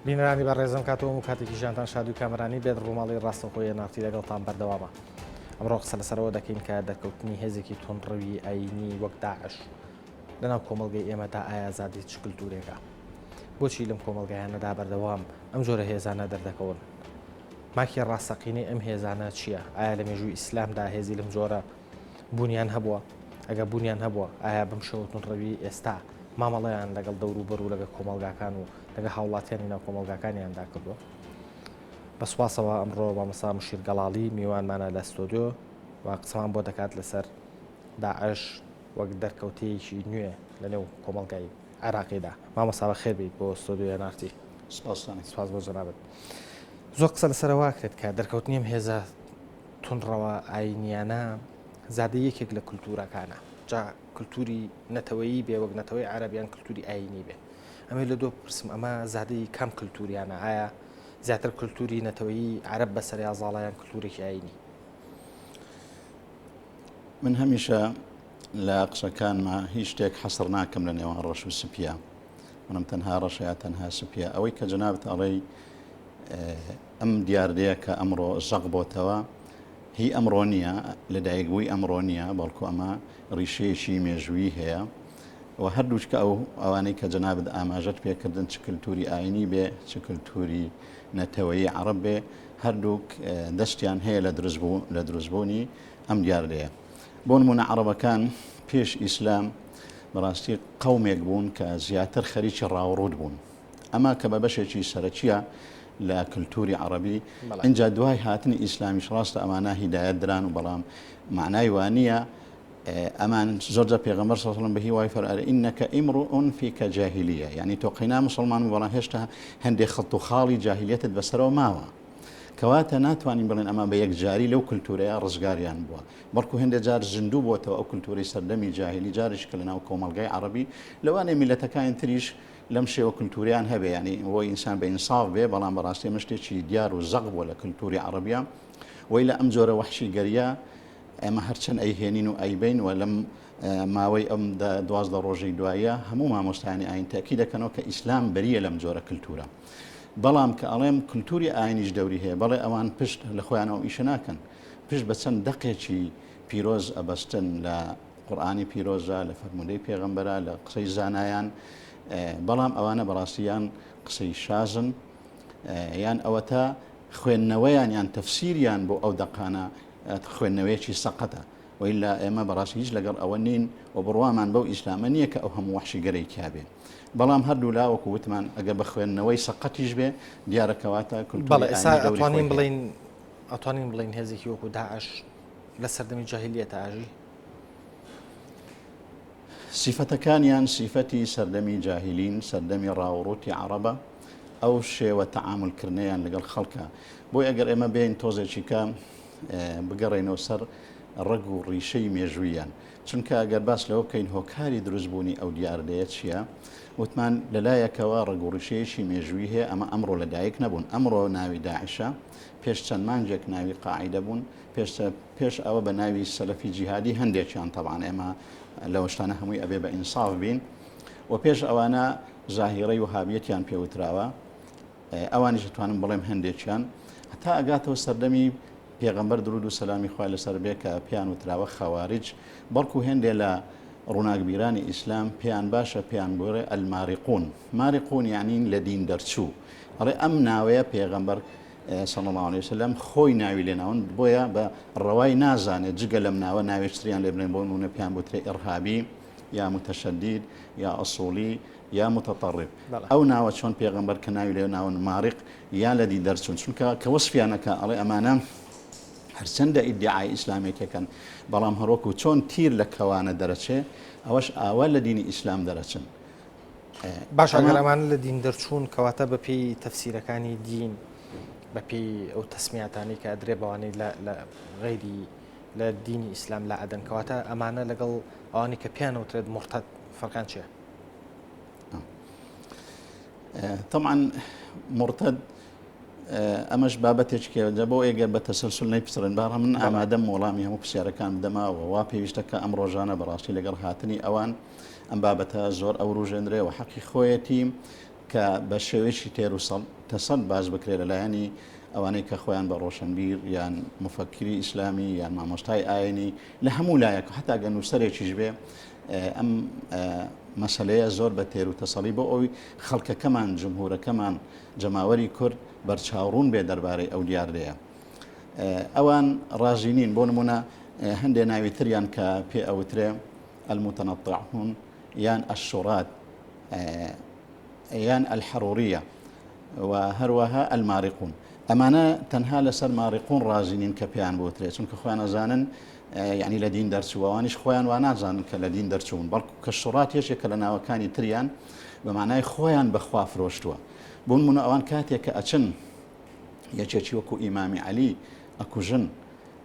بینرانی بە ڕێزم کاتەوە و کاتێکی ژیانتان شادو کامرانی بێت ڕووماڵی ڕاستەخۆیە نافتی لەگەڵتان بەردەوامە ئەمڕۆ قسە لەسەرەوە دەکەین کە دەرکەوتنی هێزێکی تونڕوی ئاینی وەک داعش لەناو کۆمەلگەی ئێمەدا ئایازادی چ کللتورێکە بۆچی لەم کۆمەلگایانەدا بەردەوام ئەم جۆرە هێزانە دەردەکەون ماکی ڕاستەقینەی ئەم هێزانە چییە؟ ئایا لە مێژووی ئیسلامدا هێزی لەم جۆرە بوونیان هەبووە؟ ئەگەر بوونیان هەبووە، ئایا بەم شێوە توندڕەوییەی ئێستا مامەڵەیان لەگەڵ دەوروبەر و لەگەڵ کۆمەڵگاکان و لەگەڵ هاوڵاتیانی ناو کۆمەڵگاکانیاندا کردووە؟ بە سوپاسەوە ئەمڕۆ مامۆستا مشیر گەڵاڵی میوانمانە لە ستۆدیۆ و قسەمان بۆ دەکات لەسەر داعش وەک دەرکەوتەیەکی نوێ لەنێو کۆمەڵگای عێراقیدا. مامۆستا بەخێر بێیت بۆ ستۆدیۆی ئێن ئارتی. سپاستان ئەکەم. سپاس بۆ جەنابت. زۆر قسە لەسەر ئەوە ئەکرێت کە دەرکەوتنی ئەم هێزە توندڕەوە ئاینییانە زادەی یەکێک لە کولتوورەکانە. جا کولتووری نەتەوەیی بێ وەک نەتەوەی عەرەب یان کولتووری ئاینی بێ. ئەمەی لە دۆ بپرسم ئەمە زادەی کام کولتووریانە؟ ئایا زیاتر کولتووری نەتەوەیی عەرەب بەسەر یازاڵە یان کولتوورێکی ئاینی؟ من هەمیشە لە قسەکانما هیچ شتێک حەسر ناکەم لە نێوان ڕەش و سپیە منم تەنها ڕەشە یا تەنها سپیە ئەوەی کە جنابت ئەڵێی ئەم دیاردەیە کە ئەمڕۆ زەق بۆتەوە هی ئەمڕۆ نییە لەدایک بووی ئەمڕۆ نییە بەڵکو ئەمە ڕیشەیەکی مێژووی هەیە و هەردووچکە ئەو ئەوانەی کە جنابت ئاماژەت پێکردن چ کللتوری ئاینی بێ چ کللتوری نەتەوەی عرب بێ هەردووک دەستیان هەیە لە دروست بوو لە دروستبوونی ئەم دیاردەیە بۆ نموونە عەڕەبەکان پێش ئیسلام بەڕاستی قەومێک بوون کە زیاتر خەریکی ڕاوڕووت بوون ئەمە کە بە بەشێکی سەرەکیە لە کللتوری عربی ئەجا دوای هاتنی ئیسلامیش ڕاستە ئەمانە هیدایەت دران و بەڵام معنای وانە ئەمان زۆرجە پێغەمەر سەڵم بە هیوای فەرار ئینەکە ئیمڕ ئۆنفی کە جاهلیە یعنی تۆ قەینا مسلمان و بەڵام هێشتا هەندێک خەڵت و خاڵی جاهلیەتت بەسەرەوە ماوە کەواتە ناتوانین بڵێن ئەمە بە یەکجاری لەو کللتورەیە ڕزگاریان بووە بەڵکو هێندە جار زیندوو بۆتەوە ئەو کللتوری سەردەمی جاهلی جاریش کە لە ناو کۆمەلگای عربی لەوانێ میلەتەکانی تریش لەم شێوە کللتوریان هەبێ ینی بۆ ئینسان بە ئینساف بێ بەڵام بەڕاستی ئەمە شتێکی دیار و زەق بووە لە کللتوری عربیە وی لە ئەم جۆرە وحشی گەریە ئێمە هەرچەند ئەیهێنین و ئەیبین و لەم ماوەی ئەم دوازدە ڕۆژی دوایە هەموو مامۆستانی ئاین تاکی دەکەنەوە کە ئیسلام بەریە لەم جۆرە کللتورە بەڵام کە ئەڵێم کللتوری ئاینیش دەوری هەیە بەڵێ ئەوان پشت لە خۆیان ئەو ئیشە ناکەن پشت بە چەند دەقێکی پیرۆز ئەبەستن لە قورآانی پیرۆزە لە فەرمودەی پێغمبەرە لە قسەی زانایان بەڵام ئەوانە بەڕاستیان قسەی شازن یان ئەوەتا خوێندنەوەیان یان تەفسیریان بۆ ئەو دەقانە خوێندنەوەیەکی سەقەتە وەیلا ئێمە بەڕاستی هیچ لەگەڵ ئەوە نین و بڕوامان بەو ئیسلامە نییە کە ئەو هەموو وەحشیگەرەی تیا بێ. بەڵام هەردوو لا وەکو وتمان ئەگەر بە خوێندنەوەی سەقەتیش بێ دیارە کەواتە کولتووری ئایینی دەوری خۆی هەیە. بەڵێ ئێستا ئەتوانین بڵێین ئەتوانین بڵێین هێزێکی وەکو داعش لە سەردەمی جاهیلیەتە ئاژی؟ سیفەتەکانیان سیفەتی سەردەمی جاهیلین سەردەمی ڕاوڕوتی عربە ئەو شێوە تەعاملکردنیان لەگەڵ خەڵکە بۆی ئەگەر ئێمە بێن تۆزێکیکە بگەڕێینەوە سەر ڕەگ و ڕیشەی مێژووییان چونکە ئەگەر باس لەوە بکەین هۆکاری دروستبوونی ئەو دیاردەیە چییە وتمان لەلایەکەوە ڕگوڕیشەیەکی مێژووی هەیە ئەمە ئەمڕۆ لەدایک نەبوون ئەمڕۆ ناوی داعشە پێش چەند مانجێک ناوی قاعدە بوون پێش ئەوە بە ناوی سەلەفی جیهادی هەندێکیان تەوان ئێمە لەوەشتانە هەمووی ئەبێ بە ئینساف بین و پێش ئەوانە زاهیڕی و هابیەتیان پێوتراوە ئەوانیش دەتوانم بڵێم هەندێکیان هەتا ئەگاتەوە سەردەمی پێغەمبەر درود و سەلامی خوای لەسەر بێ کە پێیان وتراوە خەواریج بەڵکو هێندێ لە ڕووناکبیرانی ئیسلام پێیان باشە پێیان بۆێ ئەلماریقون ماریقون یانین لە دین دەرچوو ئەڵێ ئەم ناوەیە پێغەمبەر سەڵماڵی وسلم خۆی ناوی لێناون بۆیە بە ڕەوای نازانێت جگە لەم ناوە ناوێشتریان لێبنێن بۆ نونە پێیان بوترێ ئڕهابی یا متەشەدید یا ئەسوڵی یا متطرف بەڵێ. ئەو ناوە چۆن پێغەمبەر کە ناوی لێ ناون ماریق یا لە دی دەرچون چونکە کە وەسفیان ئەکا ئەڵێ ئەمانە هەرچەندە ئیدیعای ئیسلامێتی کەن بەڵام هەروەکو چۆن تیر لە کەوانە دەرەچێ ئەوەش ئاوا لە دینی ئیسلام دەرەچن باشە ئەمە- گەر ئەمانە لە دین دەرچوون کەواتە بە پێی تەفسیرەکانی دین بە پێی ئەو تەسمیاتانەی کە ئەدرێ بەوانەی لە لە غەیری لە دینی ئیسلام لادەن کەواتە ئەمانە لەگەڵ ئەوانەی کە پێیان وترێت موڕتەد فەرقیان چیە؟ تەمان مرتد ئەمەش بابەتێکێ لە بۆ ئێگە بە تەسەسل نەی پسرن باڕە من ئامادەم وەڵامی هەموو پرسیارەکان دەماوە وا پێویستەکە ئەم ڕۆژانە بەڕاستی لەگەڵ هاتنی ئەوان ئەم بابەتە زۆر ئەوروژێنرێ و حەقی خۆیەتی کە بە شێوێکی تێر و تەسەند باز بکرێ لە لایەنی ئەوانەی کە خۆیان بە ڕۆشنبیر یان مفەکری ئیسلامی یان مامۆستای ئاینی لە هەموو لایەک حتا گەنووسەرێکیش بێ ئەم مەسەلەیە زۆر بە تێر و تەسەڵی بۆ ئەوی خەڵکەکەمان جمهورەکەمان جەماوەری کورد بەرچاوڕون بێ دەربارەی ئەو دیاردەیە ئەوان ڕازی نین بۆ نمونە هەندێ ناوی تریان کە پێ ئەوترێ المتەنەتەعون یان ئەشورات یان ئەلحەڕوریە و هەروەها ئەلماریقون ئەمانە تەنها لەسەر ماریقون ڕازی نین کە پێیان بۆترێ چونکە خۆیان ئەزانن یعنی لە دین دەرچوو ئەوانیش خۆیان وا نازانن کە لە دین دەرچوون بەڵکو کە شڕات یەشێک کە لە ناوەکانی تریان بە مانای خۆیان بەخوا فرۆشتووە بوون منە ئەوان کاتێک کە ئەچن یەکێکی وەکو ئیمامی علی ئەکوژن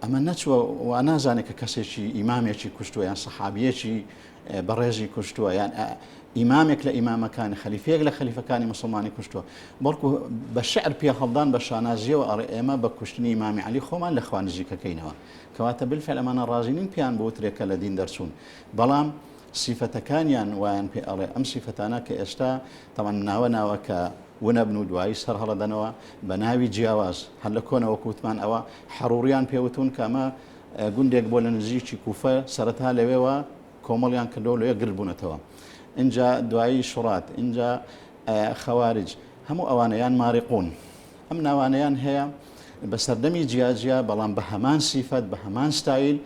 ئەمە نەچوە و نازانێت کە کەسێکی ئیمامێکی کوشتووە یان سەحابیەکی بەڕێزی کوشتووە یان ئیمامێک لە ئیمامەکانی خەلیفەیەک لە خەلیفەکانی مسلمانی کوشتووە بەڵکو بە شعر پێ هەڵدان بە شانازیەوە ئەڕێ ئێمە بە کوشتنی ئیمامی علی خۆمان لە خوانزیکەکەینەوە کەواتە بالفعل ئەمانە ڕازی نین پێیان بوترێ کە لە دین دەرچوون بەڵام سیفەتەکانیان وایان پێ ئەڵێ ئەم سیفەتانە کە ئێستا تەوان ناوە ناوە کە ونەبن و دوایی سەر هەڵەدەنەوە بە ناوی جیاواز هەر لە کۆنەوە کووتمان ئەوە حەڕوڕیان پێوتون کە ئەمە گوندێک بۆ لە نزیکی کوفە سەرەتا لەوێوە کۆمەڵیان کردەوە لەوێ گرد بوونەتەوە اینجا دوایی شڕات اینجا خەوارج هەموو ئەوانەیان ماریقون ئەم ناوانەیان هەیە بە سەردەمی جیاجیا بەڵام بە هەمان سیفەت بە هەمان ستایل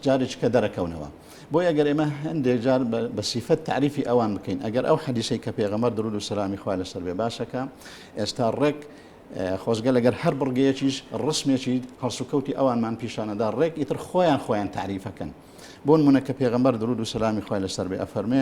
جارێک کە دەرەکەونەوە بۆ ئەگەر ئێمە هەندێک جار بە سیفەت تعریفی ئەوان بکەین ئەگەر ئەو حەدیسەی کە پێغەمەر درود و سلامی خوا لەسەر بێ باسەکە ئێستا ڕێک خۆزگە لەگەر هەر بڕگەیەکیش ڕسمێکی هەڵسوکەوتی ئەوانمان پیشانەدا ڕێک ئیتر خۆیان خۆیان تعریفەکەن بۆن منە کە پێغەمبەر درود و سلامی خۆی لەسەر بێ ئەفەرمێ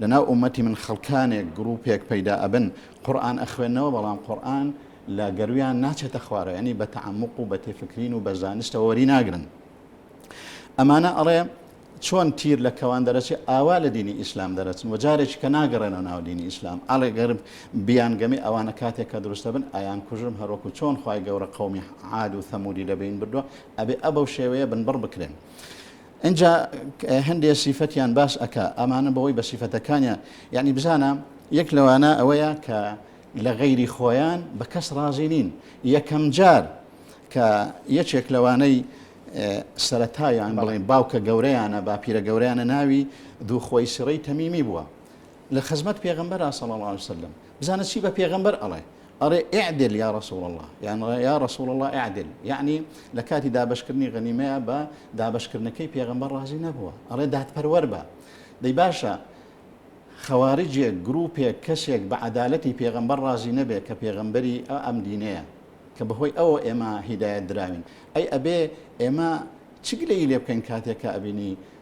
لەناو ئومەتی من خەڵکانێک گروپێک پەیدا ئەبن قورئان ئەخوێنەوە بەڵام قورئان لە گەرویان ناچێتە خوارەوە یەعنی بە تەعەموق و بە تێفکرین و بە زانستەوە وەری ناگرن ئەمانە ئەڵێ چۆن تیر لە کەوان دەرەچێ ئاوا لە دینی ئیسلام دەرەچن و جارێکی کە ناگەڕێنەوە ناو دینی ئیسلام ئاڵێ گەرب بیانگەمی ئەوانە کاتێک کە دروستە بن ئایان کوژم هەروەکو چۆن خی گەورە قومی عاد و ثەمودی لە بین بردووە ئەبێ ئە بەو شێوەیە بنبڕ بکرێن. ئینجا هەندێ سیفەتیان باس ئەکا ئەمانە بەوەی بە سیفەتەکانیان یعنی بزانە یەک لەوانە ئەوەیە کە لە غەیری خۆیان بە کەس ڕازی نین یەکەم جار کە یەکێک لەوانەی سەتایان بڵێن باوکە گەورەیانە باپیرە گەورەیانە ناوی دووخۆی سڕی تەمیمی بووە لە خزمەت پێغمبەر سەڵ سلم بزانە چی بە پێغەمبەر ئەڵێ، ئەڵێ، اعدل یا رسول اللە، یان یا رسول اللە اعدل، یەعنی لە کاتی دابەشکردنی غەنیمەیا بە دابەشکردنەکەی پێغەمبەر ڕازی نەبووە، ئەڵێ دادپەروەر بە. دەی باشە خەواریجێک، گرووپێک، کەسێک بە عەدالەتی پێغەمبەر ڕازی نەبێ کە پێغەمبەری ئەم دینەیە کە بەهۆی ئەوە ئێمە هیدایەت دراوین، ئەی ئەبێ ئێمە چ گلەیی لێ بکەین کاتێک کە ئەبینی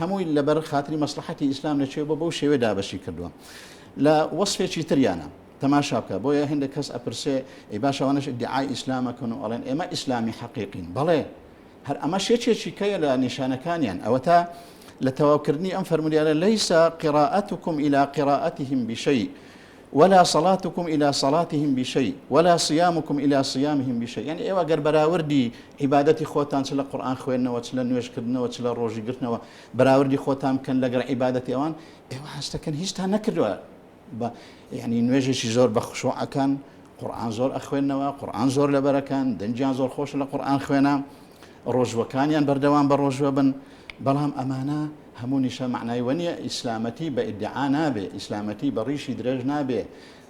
هەمووی لەبەر خاتری مەسڵەحەتی ئیسلام لە کوێ بۆ بەو شێوێ دابەشی کردووە لە وەسفێکی تریانە تەماشا بکە بۆیە هەندێک کەس ئەپرسێ ئی باشەوانش دیعای ئیسلامەکەن و ئەڵێن ئێمە ئیسلامی حەقیقین بەڵێ هەر ئەمە شێچێکی کەیە لە نیشانەکانیان ئەوە تا لە تەواوکردنی ئەم فەرمودیانە لەیسا قراءتكم إلى قراءتهم بشيء ولا صلاتکم الی صلاتهم بشیء ولا صیامکم الی صیامهم بشیء یانی ئێوە گەر بەراوردی عیبادەتی خۆتان چ لە قورئان خوێندنەوە چ لە نوێژ کردنەوە چ لە ڕۆژی گرتنەوە بەراوردی خۆتان بکەن لەگەڵ عیبادەتی ئەوان ئێوە هەست دەکەن هیچتان نەکردوە بە یعنی نوێژێکی زۆر بە خشوعەکان قورآن زۆر ئەخوێندنەوە قورآن زۆر لەبەرەکان دەنجیان زۆر خۆش لە قورآن خوێنە ڕۆژوەکانیان بەردەوام بە ڕۆژوە بن بەڵام ئەمانە هەموو نیشە مەعنای وە نیە ئیسلامەتی بە ئیدعا نابێ ئیسلامەتی بە ڕیشی درێژ نابێ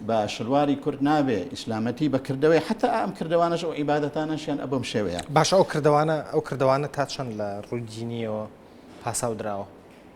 بە شلواری کورت نابێ ئیسلامەتی بە کردەوەی حتا ئەم کردوانەش و عیبادەتانەشیان ئە بەم شێوەیە. باشە ئەو کردوانە ئەو کردوانە تا چەند لە ڕووی دینیەوە پاساو دراوە؟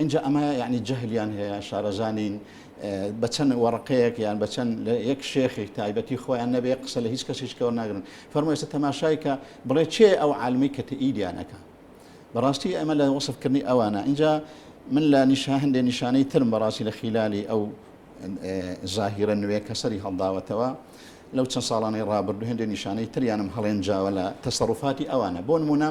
ئینجا ئەمە یەعنی جەهلیان هەیە شارەزا نین بە چەند وەڕقەیەک یان بە چەند لە یەک شێخێک تایبەتی خۆیان نەبێ قسە لە هیچ کەسیش کەەوە ناگرن فەرمو ئێستا تەماشای کە بڵێ چێ ئەو عالمی کە تئیدیانەکە بەڕاستی ئەمە لە وەصفکردنی ئەوانە اینجا من لە نیشا هەندێ نیشانەی ترم بەڕاستی لە خیلالی ئەو زاهیرە نوێ کە سەری هەڵداوەتەوە لەو چەند ساڵانەی ڕابردو هەندێ نیشانەی تریانم هەڵێن جاوە لە تەسەڕفاتی ئەوانە بۆ نمونە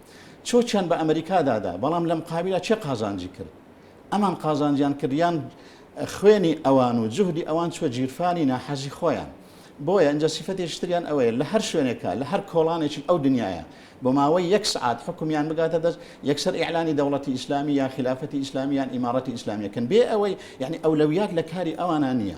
چۆکیان بە ئەمریکا دادا بەڵام لە مقابیلا چێ قازانجی کرد؟ ئەمان قازانجیان کرد یان خوێنی ئەوان و جوهدی ئەوان چوە جیرفانی ناحەزی خۆیان؟ بۆیە ئینجا سیفەتێکی تریان ئەوەیە لە هەر شوێنێکا لە هەر کۆڵانێکی ئەو دنیایە بۆ ماوەی یەک سەعات حوکمیان بگاتە دەست یەکسەر ئیعلانی دەوڵەتی ئیسلامی یا خیلافەتی ئیسلامی یان ئیماڕەتی ئیسلامیەکەن بێ ئەوەی یەعنی ئەولەویات لە کاری ئەوانە نیە.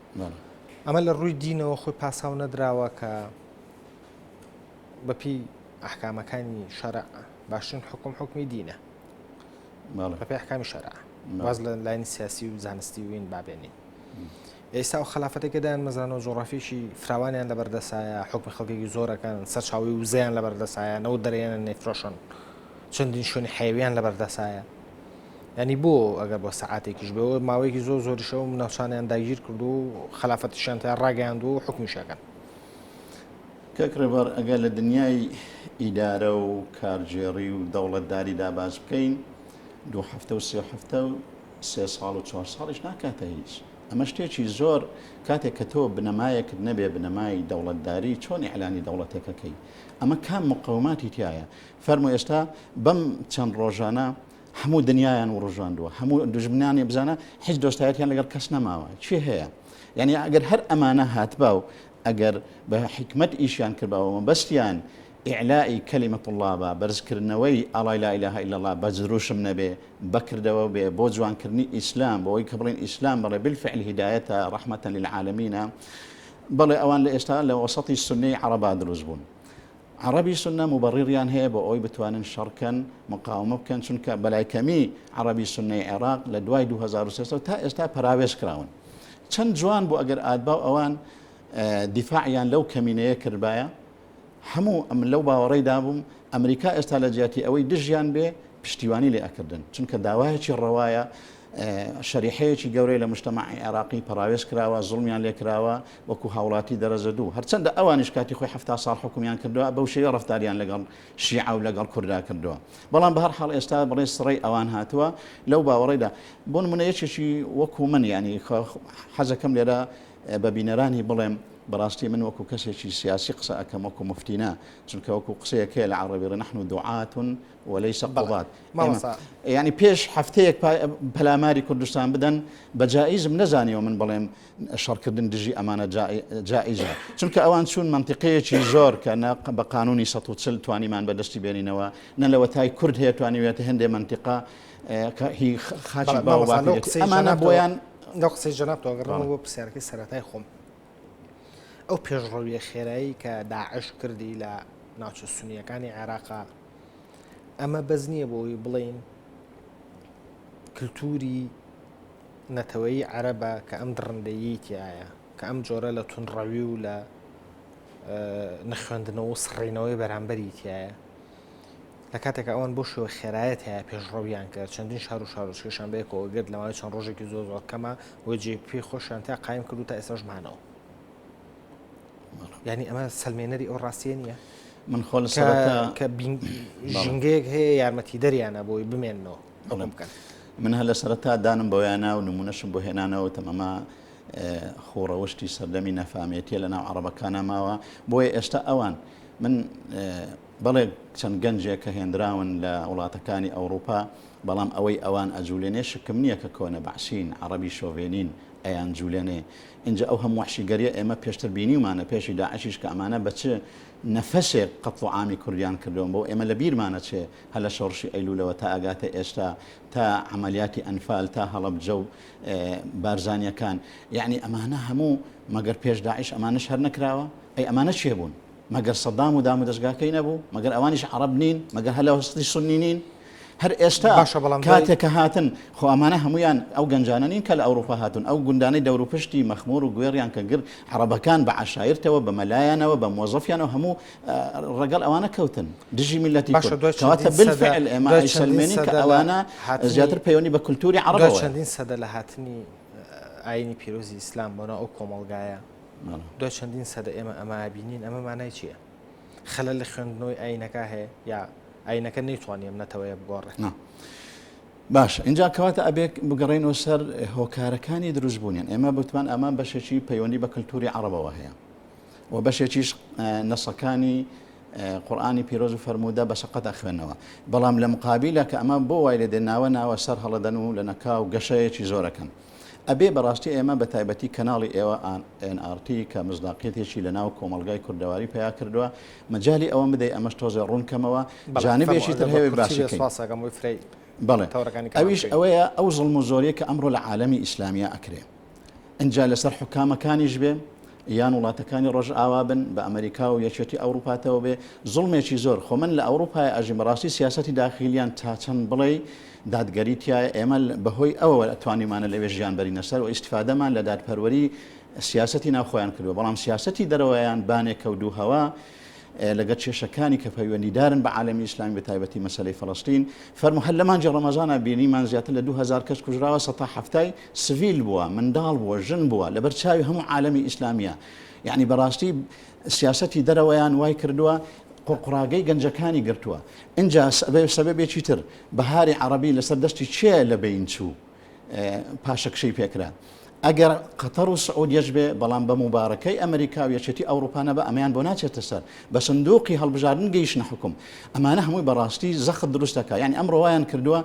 ئەمە لە ڕووی دینەوە خۆی پاساو نەدراوە کە بەپی ئەحکامەکانی شەرع باشترین حکوم حکومی دینە بەپی ئەحکامی شەرع واز لە لاین سیاسی و زانستی وین بابێنین ئێستا و خلافەتەکەدان مەزانەوە جۆڕافیشی فراوانیان لە بەردەسایە حکومی خەڵکێکی زۆرەکان سەرچاوی وزیان لە بەردەسایە نەوە دەرێنە نەیفرۆشن چەندین شوێنی حەیەویان لەبەردەسایە ینی بۆ ئەگەر بۆ سەعاتێکیش بەوە ماوەیەکی زۆر زۆریشەوە ناوچانیان داگیر کرد و خلافەتشیان تا ڕاگەیاند و حکومیشەکەن کەک ڕێبەر ئەگە لە دنیای ئیدارە و کارگێڕی و دەوڵەتداری داباز بکەین دوو هەفتە و سێ هەفتە و سێ ساڵ و چوار ساڵیش ناکاتە هیچ ئەمە شتێکی زۆر کاتێک کە تۆ بنەمایەکت نەبێ بنەمای دەوڵەتداری چۆن ئەعلانی دەوڵەتەکەکەی ئەمە کام مقاوماتی تایە فەرموو ئێستا بەم چەند ڕۆژانە هەموو دنیایان وڕژاندووە هەموو دژمنانی بزانە هیچ دۆستایەتیان لەگەڵ کەس نەماوە چی هەیە یعنی ئەگەر هەر ئەمانە هاتبا و ئەگەر بە حکمت ئیشیان کردباوە مەبەستیان ئیعلائی کەلیمە طلابە بەرزکردنەوەی ئاڵای لا ئیلاهە ئیلا الله بە زروشم نەبێ بەکردەوە بێ بۆ جوانکردنی ئیسلام بۆەوەی کە بڵین ئیسلام بەڵێ بالفعل هیدایەتە ڕەحمەتە للعالمینە بەڵێ ئەوان لە ئێستا لە وەسەتی سنەی عەرەبا دروست بوون عەڕەبی سوننە موبەڕیڕیان هەیە بۆ ئەوەی بتوانن شەڕ کەن، مقاومە بکەن، چونکە بەلای کەمی عەڕەبی سوننەی عێڕاق لە دوای دوو هەزار و سێ سەد تا ئێستا پەراوێز کراون. چەند جوان بوو ئەگەر ئادباو ئەوان دیفاعیان لەو کەمینەیە کردبایە، هەموو ئەم لەو باوەڕەی دابووم ئەمریکا ئێستا لە جیاتی ئەوەی دژیان بێ پشتیوانی لێ ئەکردن، چونکە داوایەکی ڕەوایە شەریحەیەکی گەورەی لە موجتەمەعی عێراقی پەڕاوێز کراوە، زوڵمیان لێ کراوە وەکوو هاوڵاتی دەرەجە دوو. هەرچەندە ئەوانیش کاتی خۆی حەفتا ساڵ حوکمیان کردووە، بەو شێوە ڕەفتاریان لەگەڵ شیعە و لەگەڵ کوردا کردووە. بەڵام بە هەر حاڵ ئێستا بڵێ سڕەی ئەوان هاتووە لەو باوەڕەیدا. بۆ نموونە یەکێکی وەکوو من یانی حەزەکەم لێرە بە بینەرانی بڵێم بەڕاستی من وەکوو کەسێکی سیاسی قسە ئەکەم وەکوو موفتی نا، چونکە وەکوو قسەیەک هەیە لە عەڕەبی ڕێ نەحنو دوعاتون ولەیس قوباد مامۆستا یانی پێش هەفتەیەک پەلاماری کوردستان بدەن بە جائیزم نەزانیەوە من بڵێم شەڕکردن دژی ئەمانە جائیزە چونکە ئەوان چوون منطقەیەکی زۆر کە بە قانونی 140 توانیمان بەدەستی بێنینەوە نە لەوە تای کورد هەیە توانیوێت هەندێ منطقە هی خاچی باوەمانە بۆیان لەو قسەی جەناب تۆگەڕەوە بۆ پرسیارەکەی سەرەتای خۆم ئەو پێشڕەویە خێرایی کە داعش کردی لە ناوچە سنیەکانی عێراقا ئەمە بەس نییە بۆ ئەوی بڵێین کللتوری نەتەوەی عەرەبە کە ئەم دڕندەیی تایە کە ئەم جۆرە لە تونڕەوی و لە نەخوێندنەوە و سڕینەوەی بەرامبەری تایە لە کاتێک ئەوان بۆ شوێ خێرایەت هەیە پێشڕەویان کرد چەندین شار و شارۆچکەشان بەیەکەوە گرت لەماوەی چەند ڕۆژێکی زۆر زۆر کەمە وەجێ پێی خۆشیان تا قایم کرد و تا ئێساشمانەوە ینی ئەمە سلمێنەری ئەو ڕاستیە نییە من خۆ کە ژینگەیەک هەیە یارمەتی دەریانە بۆی بمێنەوە بکەن من هە لە سەرتا دانم بۆیانە و نمونەشم بۆ هێنانەوە تەمەما خۆڕەوشتی سەردەمی نەفامێتیە لە ناو عربەکانە ماوە بۆیە ئێستا ئەوان من بەڵێ چەند گەنجێک کە هێنراون لە وڵاتەکانی ئەوروپا بەڵام ئەوەی ئەوان ئەجوولێنێ شکم نییە کە کۆنە بەعسین عربی شۆڤێنین ئەیان جوولێنێ ئینجا ئەو هەموو وەحشیگەریە ئێمە پێشتر بینیومانە پێشی داعشیش کە ئەمانە بە چ نەفەسێک قەتڵو عامی کوردیان کردوە بۆ ئێمە لە بیرمانە چێ هەر لە شۆڕشی ئەیلولەوە تا ئەگاتە ئێستا تا عەمەلیاتی ئەنفال تا هەڵەبجە و بارزانیەکان یەعنی ئەمانە هەموو مەگەر پێش داعش ئەمانەش هەر نەکراوە ئەی ئەمانە چێ بوون مەگەر سەدام و دامودەزگاکەی نەبوو؟ مەگەر ئەوانیش عەڕەب نین؟ مەگەر هەر لەوەستی سوننی نین؟ هەر ئێستا باشە بەڵام دوای کاتێک کە هاتن خۆ ئەمانە هەموویان ئەو گەنجانە نین کە لە ئەوروپا هاتوون ئەو گوندانەی دەوروپشتی مەخمور و گوێڕیان کە گرت عەڕەبەکان بە عەشایرتەوە بە مەلایانەوە بە مۆزەفیانەوە هەموو ڕەگەڵ ئەوانە کەوتن دژی میللەتی باشە کورد دوای کەواتە چەندین سەدە بالفعل ئێمە دوای چەندین ئەیسەلمێنین کە سەدە لە ئەوانە هاتنی زیاتر پەیوەندی بە کولتووری دوای عەڕەبەوەیە. چەندین سەدە لە هاتنی ئاینی پیرۆزی ئیسلام بۆ ناو ئەو کۆمەڵگایە دوای چەندین سەدە ئێمە ئەمە بینین ئەمە مانای چییە؟ خەلە لە خوێندنەوەی ئاینەکە هەیە یا ئاینەکە نەیتوانیم نەتەوەیە بگۆڕێت. باش اینجا کەواتە ئەبێک بگەڕێنەوە سەر هۆکارەکانی دروست بوونیان ئێمە بتمان ئەمە بەشێکی پەیوەندی بە کللتوری عربەوە هەیە و بەشێکیش نەسەکانی قورآانی پیرۆز و فەرموودە بە شقەتە خوێنەوە بەڵام لە مقابلە کە ئەمە بۆ وای لە دێناوە ناوە سەر هەڵەدەن و لە نەکاو گەشەیەکی زۆرەکەن. ئەبێ بەڕاستی ئێمە بەتایبەتی کەناڵی ئێوە ئێن ئاڕ تی کە مصداقیەتێکی لەناو کۆمەڵگای کوردەواری پەیا کردوە مەجالی ئەوەم بدەی ئەمەش تۆزێ ڕوون کەمەوە جانبێکی تر هەیە باشی کەین بەڵێ ئەویش ئەوەیە ئەو زڵم و زۆریە کە ئەمڕۆ لە عالەمی ئیسلامیە ئەکرێ ئەجا لەسەر حکامەکانیش بێ یان وڵاتەکانی ڕۆژ ئاوا بن بە ئەمریکا و یەکێتی ئەوروپاتەوە بێ زڵمێکی زۆر خۆ من لە ئەوروپای ئەژیم ڕاستی سیاستی داخیلیان تا چەند بڵێ دادگەری تیایە، ئێمە بەهۆی ئەوەوە توانیومانە لەوێ ژیان بەرینە سەر و ئیستفادەمان لە دادپەروەری سیاسەتی ناوخۆیان کردووە، بەڵام سیاسەتی دەرەوەیان بانێکە و دووهەوا لەگەر کێشەکانی کە پەیوەندیدارن بە عالەمی ئیسلامی بەتایبەتی مەسەلەی فەڵەستین، فەرموو هەر لە مانگی ڕەمەزانا بینیمان زیاتر لە دوو هەزار کەس کوژراوە سەتا حەفتای سڤیل بووە، منداڵ بووە، ژن بووە، لەبەر چاوی هەموو عالەمی ئیسلامیە، یەعنی بەڕاستی سیاسەتی دەرەوەیان وایکردووە قوڕقوڕاگەی گەنجەکانی گرتووە، ئینجا سەبەبێکی تر بەهاری عەڕەبی لەسەر دەشتی چێ لە بەین چوو پاشەکشەی پێکرا. ئەگەر قەتەڕ و سعودیەش بێ، بەڵام بە موبارەکەی ئەمریکا و یەکێتی ئەوڕوپا نەبا ئەمەیان بۆ ناچێتە سەر. بە سندوقی هەڵبژاردن گەیشتنە حوکم. ئەمانە هەمووی بە ڕاستی زەخت دروست دەکا. یانی ئەمڕۆ وایان کردووە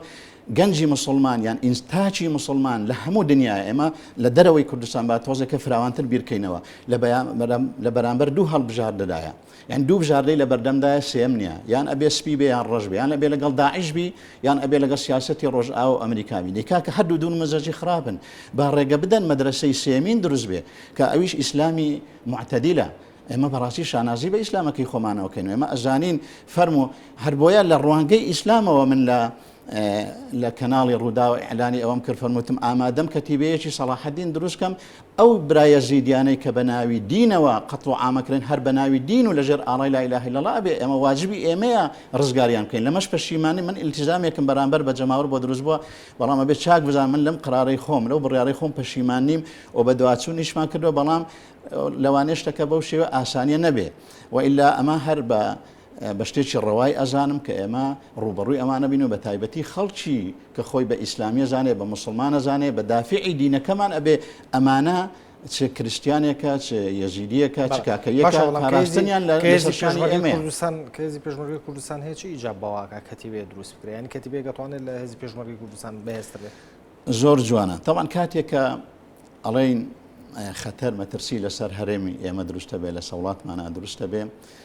گەنجی موسڵمان یان تاکی موسڵمان لە هەموو دنیایە ئێمە لە دەرەوەی کوردستان با تۆزێکە فراوانتر بیرکەینەوە لە بەرامبەر دوو هەڵبژاردەدایە. یان دوو بژاردەی لە بەردەمدایە سێیەم نیە یان ئەبێ سپی بێ یان ڕەش بێ یان ئەبێ لەگەڵ داعش بی یان ئەبێ لەگەڵ سیاسەتی ڕۆژئاوا و ئەمریکا بی دەی کاکە هەردوو دوون مەزەجی خراپن با ڕێگە بدەن مەدرەسەی سێمین دروست بێ کە ئەویش ئیسلامی معتەدیلە ئێمە بەڕاستی شانازی بە ئیسلامەکەی خۆمانەوە کەین ئێمە ئەزانین فەرمو هەر بۆیە لە ڕوانگەی ئیسلامەوە من لە لە کەناڵی ڕووداو ئیعلانی ئەوەم کرد فەرمووتم ئامادەم کەتیبەیەکی سەڵاحەدین دروست کەم ئەو برا یەزیدیانەی کە بە ناوی دینەوە قەتڵ و عامەکرێن هەر بە ناوی دین و لەژێر ئاڵای لا اله الا الله ئەبێ ئێمە واجبی ئێمەیە ڕزگاریان بکەین لەمەش پەشیمانی من التزامێکم بەرامبەر بە جەماوەر بۆ دروست بووە بەڵام ئەبێ چاک بزان من لەم قرارەی خۆم لەو بڕیارەی خۆم پەشیمان نیم و بە دواچوونیشمان کردو بەڵام لەوانێشتەکە بەو شێوە ئاسانیە نەبێ و ئللا ئەمە هەر بە بە شتێکی ڕەوای ئەزانم کە ئێمە ڕووبەڕووی ئەمانە بین و بە تایبەتی خەڵکی کە خۆی بە ئیسلامی ئەزانێ، بە موسڵمان ئەزانێ، بە دافیعی دینەکەمان ئەبێ، ئەمانە چ کریستیانێکە، چ یەزیدییەکە، چ کاکەییەکە، پاراستنیان لە لەسەر شانی ئێمەیە. کەێزی پێشمەرگەی کوردستان هەیە چ ئیجاب بەواکە کەتیبێ دروست بکرێ، یانی کەتیبێ دەتوانێت لە هێزی پێشمەرگەی کوردستان بەهێزتر بێت؟ زۆر جوانە تاوان کاتێک کە ئەڵێین خەتەر مەترسی لەسەر هەرێمی ئێمە دروستە بێ لە سەوڵاتمانە دروستە بێ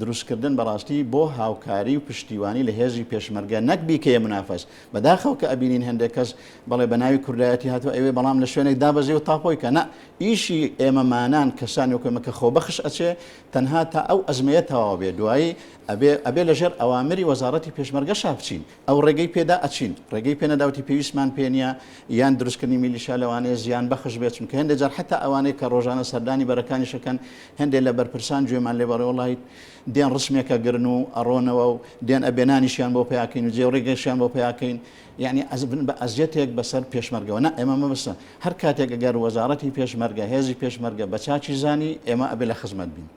دروستکردن بەڕاستی بۆ هاوکاری و پشتیوانی لە هێزی پێشمەرگە نەک بیکەیە منافەس بەداخەوە کە ئەبینین هەندێک کەس بەڵێ بە ناوی کوردایەتی هاتوە ئەوێ بەڵام لە شوێنێک دابەزی و تاپۆی کە نە ئیشی ئێمە مانان کەسانی وەکوێمە کە خۆبەخش ئەچێ تەنها تا ئەو ئەزمەیە تەواو بێ دوایی ئەبێ ئەبێ لەژێر ئەوامری وەزاڕەتی پێشمەرگەشا بچین ئەو ڕێگەی پێدا ئەچین ڕێگەی پێ نەداوتی پێویستمان پێ نیە یان دروستکردنی میلیشیا لەوانەیە زیان بەخش بێت چونکە هەندێک جار حتا ئەوانەیە کە ڕۆژانە سەردانی بەرەکانیشەکەن هەندێک لە بەرپرسان گوێمان لێ بەڕێ وڵیت دێن ڕسمێکە گرن و ئەڕۆنەوە و دێن ئەبێنانیشیان بۆ پیاکەین و جێ ڕێگەشیان بۆ پیاکەین یعنی ئەزبن بە ئەزیەتێک بەسەر پێشمەرگەوە نە ئێمە مەبستە هەر کاتێک گەر وەزارەتی پێشمەرگە هێزی پێشمەرگە بە چاچی زانی ئێمە ئەبێ لە خزمەت بین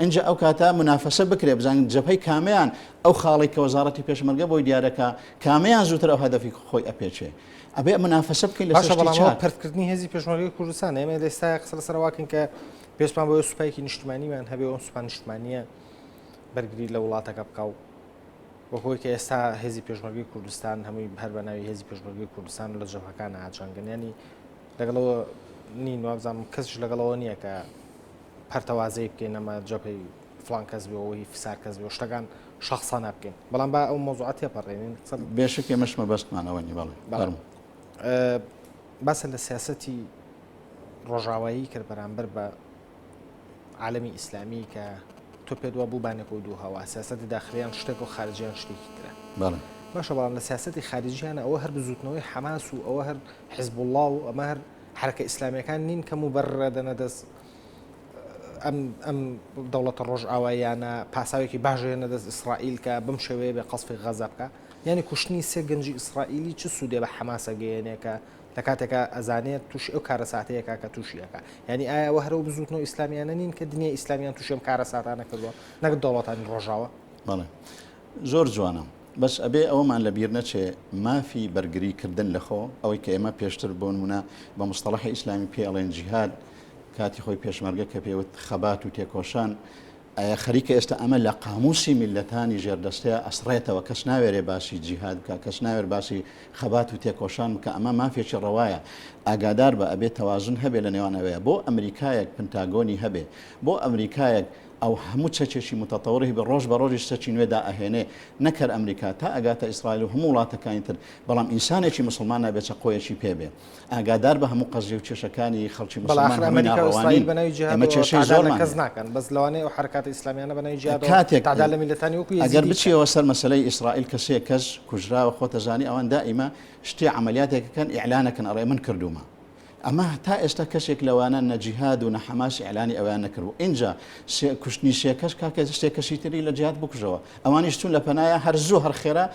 ئینجا ئەو کاتە منافەسە بکرێت بزانین جەبهەی کامەیان ئەو خاڵەی کە وەزاڕەتی پێشمەرگە بۆی دیارەکا کامەیان زووتر ئەو هەدەفی خۆی ئەپێچێ ئەبێ منافەسە بکەین لەسەر شتی چاک. پەرتکردنی هێزی پێشمەرگەی کوردستان ئێمە لە ئێستا قسە لەسەر واکەین کە پێشمان بۆ سوپایەکی نیشتمانیمان هەبێ ئەو سوپا نیشتمانیە بەرگری لە وڵاتەکە بکە و وەهۆی کە ئێستا هێزی پێشمەرگی کوردستان هەمووی هەر بە ناوی هێزی پێشمەرگی کوردستان لە جەمەکان ئاچانگەنیانی لەگەڵەوە نین وابزانم کەسش لەگەڵەوە نییە کە پەرتەوازەی بکەین ئەمە جەبهەی فڵان کەس بێ و هی فسار کەس بێ و شتەکان شەخسانە بکەین بەڵام با ئەو مۆزوعە تێپەڕێنین قسە بێشک ئێمەش مەبەستمان ئەوە نی بەڵێ بەڵێ باسە لە سیاسەتی ڕۆژاوایی کرد بەرامبەر بە عالمی ئیسلامی کە تۆ پێت وە بوو بانێک و دوو هەوا سیاستی داخلیان شتێک و خارجیان شتێکی ترە باشە بەڵام لە سیاستی خارجیانە ئەوە هەر بزوتنەوەی حەماس و ئەوە هەر حزب وڵا و ئەمە هەر حەرەکە ئیسلامیەکان نین کەم و بەر ڕێدەنە دەست ئەم ئەم دەوڵەتە ڕۆژئاواییانە پاساوێکی باشێنە دەست ئیسرائیل کە بم شێوەیە بێ قەسفی غەزە بکە یعنی کوشتنی سێ گەنجی ئیسرائیلی چ سوودێ بە حەماسە گەیەنێ کە لە کاتێکە ئەزانێت تووشی ئەو کارە ساتەیەکە کە تووشیەکە یعنی ئایا وە هەرو بزوتنەوە ئیسلامیانە نین کە دنیا ئیسلامیان تووشم کارە ساتانە کردووە نەک دەوڵەتانی ڕۆژاوە بەڵێ زۆر جوانە بەس ئەبێ ئەوەمان لە بیر نەچێ مافی بەرگری کردن لە خۆ ئەوەی کە ئێمە پێشتر بۆ نمونە بە مستەڵەحی ئیسلامی پێ ئەڵێن جیهاد کاتی خۆی پێشمەرگە کە پێوت خەبات و تێکۆشان ئایا خەریکە ئێستا ئەمە لە قاموسی میلەتانی ژێردەستەیە ئەسڕێتەوە کەس ناوێرێ باسی جیهاد بکە کەس ناوێر باسی خەبات و تێکۆشان بکە ئەمە مافێکی ڕەوایە ئاگادار بە ئەبێ تەوازن هەبێ لە نێوانەوەیە بۆ ئەمریکایەک پنتاگۆنی هەبێ بۆ ئەمریکایەک ئەو هەموو چەکێکی متطور هەبێ ڕۆژ بە ڕۆژیش چەکی نوێ دائەهێنێ نەک هەر ئەمریکا تا ئەگاتە ئیسرائیل و هەموو وڵاتەکانی تر بەڵام ئینسانێکی موسڵمان نابێ چەقۆیەکی پێ بێ ئاگادار بە هەموو قەزیە و کێشەکانی خەڵکی موسڵمان هەمووی ناڕەوانین ئێمە کێشەی زۆرمان هەیە کاتێک ئەگەر بچیەوە سەر مەسەلەی ئیسرائیل کە سێ کەس کوژراوە خۆتەزانی ئەوان دائیمە شتی عەمەلیاتێک کەن ئیعلانەکەن ئەڵێ من کردوومە ئەمە تا ئێستا کەسێک لەوانە نە جیهاد و نە حەماس ئیعلانی ئەویان نەکردبوو ئینجا شێ کوشتنی شێ کەس کاکە شتێ کەسی تری لە جیهاد بکوژەوە ئەوانیش چون لە پەنایا هەر زوو هەر خێرا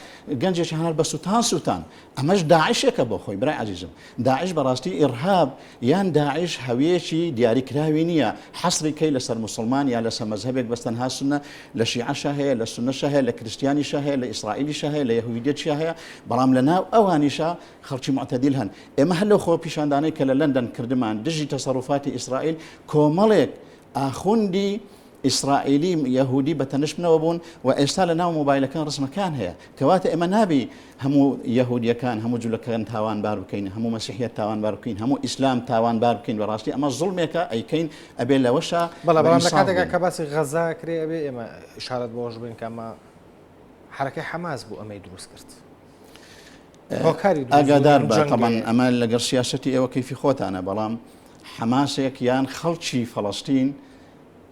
گەنجێکی هەنار بە سوتان سوتان ئەمەش داعشێکە بۆ خۆی برای عزیزم داعش بەڕاستی ئیرهاب یان داعش هەویەکی دیاریکراوی نییە حەسری کەی لەسەر مسلمان یا لەسە مەزهبێک بەستەنها سنە لە شیعەشە هەیە لە سنەشە هەیە لە کرستیانیشە هەیە لە ئیسرائیلیشە هەیە لە یهویدێتشە هەیە بەڵام لە ناو ئەوانیشە خەڵکی موعتەدیل هەن. ئێمە هەر لەو خۆپیشاندانەی کە لە لەندەن کردمان دژی تەسەروفاتی ئیسرائیل، کۆمەڵێک ئاخوندی ئیسرائیلی یەهودی بە تەنشمنەوە بوون و ئێستا لە ناو مۆبایلەکان ڕسمەکان هەیە. کەواتە ئێمە نابی هەموو یەهودییەکان، هەموو جولەکەن تاوانبار بکەین، هەموو مەسیحییەت تاوانبار بکەین، هەموو ئیسلام تاوانبار بکەین، بە ڕاستی ئەمە زوڵمێکە ئەیکەین، ئەبێ لەوەشا بەڵێ، بەڵام لە کاتێکا کە باسی غەززە ئەکرێ ئەبێ ئێمە ئیشارەت بەوەش بکەین کە ئەمە حەرەکەی حەماس بوو ئەمەی دروست کرد. ئاگادار بە تەمان ئەمە لەگەڵ سیاستی ئێوە کەفی خۆتانە بەڵام حەماسێک یان خەڵکی فەڵستین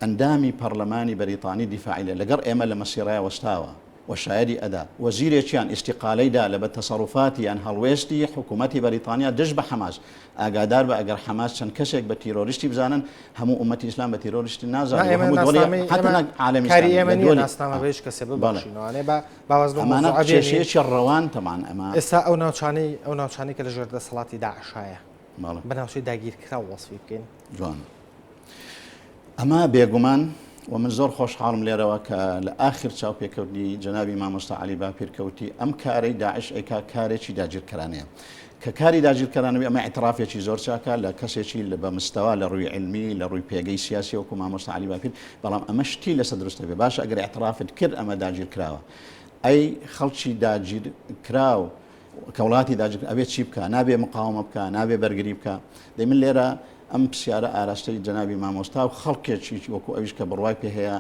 ئەندامی پەرلەمانی بەریتانی دیفاعیلە لەگەڵ ئێمە لە مەسیڕای وەستاوە و شایدی ئەدا وەزیرێکیان ئیسیقالەیدا لە بە تەسەڕوفاتی یان هەڵوێستی حکوومەتتی بەریتانیا دژ بە حەماس ئاگادار بە ئەگەر حەماس چەند کەسێک بە تیرۆریستی بزانن هەموو ئومەتی ئسلام بە تیرۆریستی نازانێت کەسێ بە باواز بەم ئەمانە مەوزوعە بێنین. کێشەیەکی ڕەوان تەمان ئەمە. ئێستا ئەو ناوچانەی ئەو ناوچانەی کە لە ژێر دەسەڵاتی داعشایە بەڵێ. بە ناوچەی داگیرکراو وەسفی بکەین. جوان. ئەمە بێگومان و من زۆر خۆشحاڵم لێرەوە کە لە ئاخر چاوپێکەوتنی جەنابی مامۆستا عەلی باپیر کە وتی ئەم کارەی داعش ئەیکا کارێکی داگیرکەرانەیە. کە کاری داگیرکەرانە بێ، ئەمە ئیعترافێکی زۆر چاکە لە کەسێکی لە بە مستەوا لە ڕووی علمی، لە ڕووی پێگەی سیاسی وەکوو مامۆستا عەلی باپیر، بەڵام ئەمە شتی لەسە دروستە بێ، باشە ئەگەر ئیعترافت کرد ئەمە داگیرکراوە، ئەی خەڵکی داگیرکراو کە وڵاتی داگیر ئەبێ چی بکە، نابێ مقاومە بکە، نابێ بەرگری بکە، دەی من لێرە ئەم پرسیارە ئاراستەی جەنابی مامۆستا و خەڵکێکی وەکوو ئەویش کە بڕوای پێ هەیە